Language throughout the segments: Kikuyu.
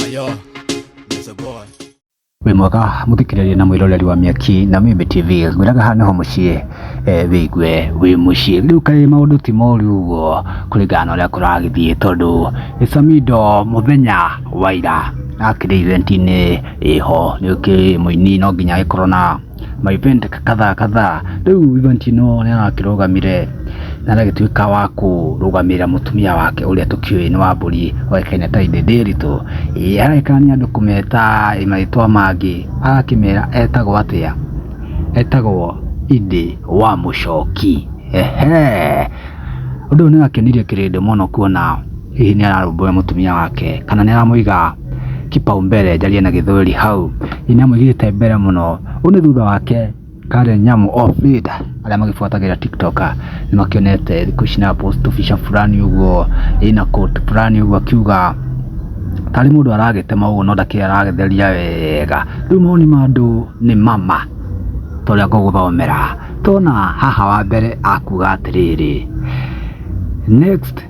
Ayo, there's a boy. wĩ mwega mũthikĩrĩria na mwĩroreri wa mĩaki na mimi tv ngwĩraga haha nĩho mũciĩ eh, wĩigue wĩ mũciĩ rĩu kaĩ maũndũ ti moru ũguo kũringana na ũrĩa kũragĩthiĩ tondũ samido mũthenya wa ira akĩrĩ eventi-inĩ ĩho nĩũkĩ mũini no nginya agĩkorwo na my friend kadhaa kadhaa rĩu Ivantino nĩ arakĩrũgamire na agĩtuĩka wa kũrũgamĩrĩra mũtumia wake ũrĩa tũkĩũĩ nĩ wa mbũri oĩkaine ta Ithe Ndĩritũ Ĩ, aragĩkania andũ kũmeta ĩ, marĩtwa mangĩ agakĩmera etagwo atĩa etagwo Ithe wa mũcoki ehe ũndũ ũyũ nĩ wakenirie kĩrĩndĩ mũno kuona hihi nĩ ararũmbũya mũtumia wake kana nĩ aramũiga kipaumbele njarie na gĩthweri hau hihi nĩ amũigĩte mbere mũno ũyũ nĩ thutha wake Karen Nyamu of late arĩa magĩbuatagĩra tiktoker nĩ makĩonete thikũ ici na post tũbica fulani ũguo ĩna coat fulani ũguo akiuga tarĩ mũndũ aragĩtema ũguo no ndakĩrĩ aragĩtheria wega rĩu mawoni ma andũ nĩ mama ta ũrĩa ngũgũthomera tona haha wa mbere akuga atĩrĩrĩ next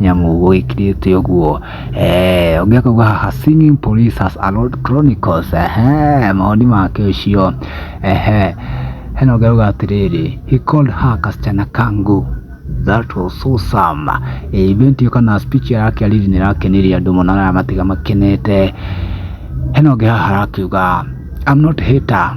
nyamũ gwĩkirĩte ũguo eh, ũngĩ akauga haha singing police has allowed chronicles ehe maoni make ũcio ehe hena ũngĩ arauga atĩrĩrĩ he called her kasichana kangu that was so some Eh, event ĩyo kana speech yake ariri nĩ rakenirie andũ mũno na matiga makenete hena ũngĩ haha arakiuga I'm not hater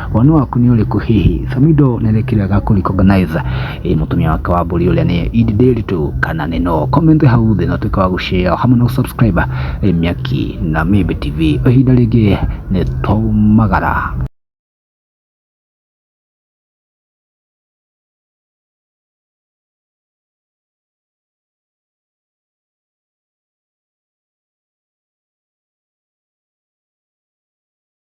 Woni waku nĩ ũrĩkũ hihi? Samido nĩ rĩkĩrega kũ recognize eh, mũtumia wake wa mbũri ũrĩa nĩ Idi Ndiritu kana nĩ no? Comment hau thĩ na ũtuĩke wa gũshare hamwe na gũsubscribe eh, Mĩaki na Mĩmbi TV. O ihinda rĩngĩ nĩ twaumagara.